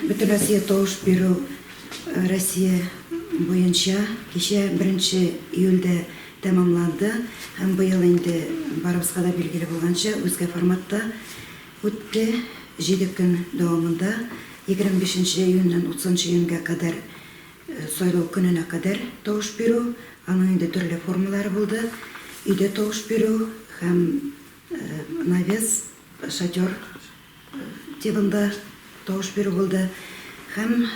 Бөтенроссия тавыш бирү Россия буенча кичә, беренче июльдә тәмамланды һәм быел инде, барыбызга да билгеле булганча, үзгә форматта үтте. Җиде көн дәвамында, егерме бишенче июньнән утызынчы июньгә кадәр, сайлау көненә кадәр тавыш бирү, аның инде төрле формалары булды, өйдә тавыш бирү һәм навес, шатер, активында тавыш бирү булды һәм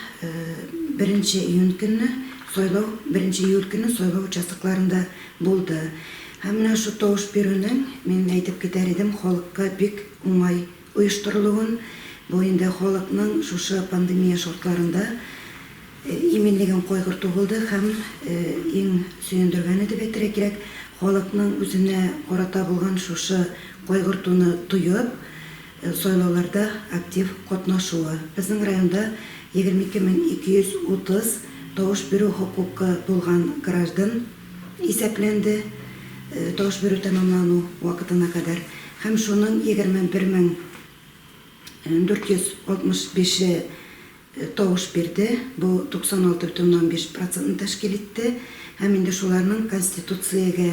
беренче июнь көнне сайлау, беренче июль көнне сайлау участокларында булды. Һәм менә шул тавыш бирүнең, мин әйтеп китәр идем, халыкка бик уңай оештырылуын, бу инде халыкның шушы пандемия шартларында, Иминлеген кайгырту булды һәм, иң сөендергәне дип әйтергә кирәк, халыкның үзенә карата булган шушы кайгыртуны тоеп, сайлауларда актив катнашуы. Безнең районда 22230 тавыш бирү хокукы булган граждан исәпләнде тавыш бирү тәмамлану вакытына кадәр һәм шуның 21465-е тавыш бирде, бу 96,5 процентны тәшкил итте һәм инде шуларның Конституциягә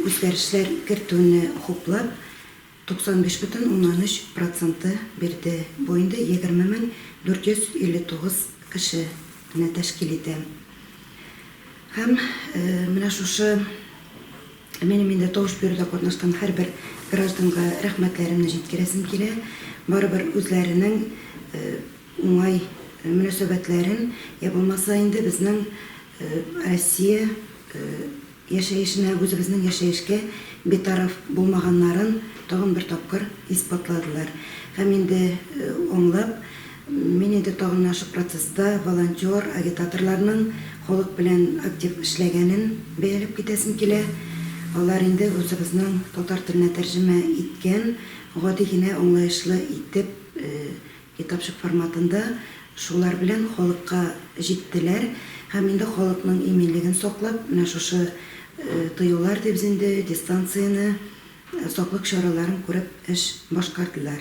үзгәрешләр кертүне хуплап, 95,3 проценты бирде, бу инде 20459 кешене тәшкил итә. Һәм менә шушы Минем инде тавыш бирүдә катнашкан һәрбер гражданга рәхмәтләремне җиткерәсем килә. Барыбер үзләренең уңай мөнәсәбәтләрен, йә булмаса инде безнең Россия яшәешенә, үзебезнең яшәешкә битараф булмаганнарын тагын бер тапкыр исбатладылар. Һәм инде аңлап, Мин инде тагын ачык процесста волонтер, агитаторларның халык белән актив эшләгәнен бәяләп китәсем килә. Алар инде үзебезнең татар теленә тәрҗемә иткән, гади генә аңлаешлы итеп, китапчык форматында шулар белән халыкка җиттеләр һәм инде халыкның иминлеген саклап, менә шушы тыюлар дибез инде, дистанцияне, саклык чараларын күреп эш башкардылар.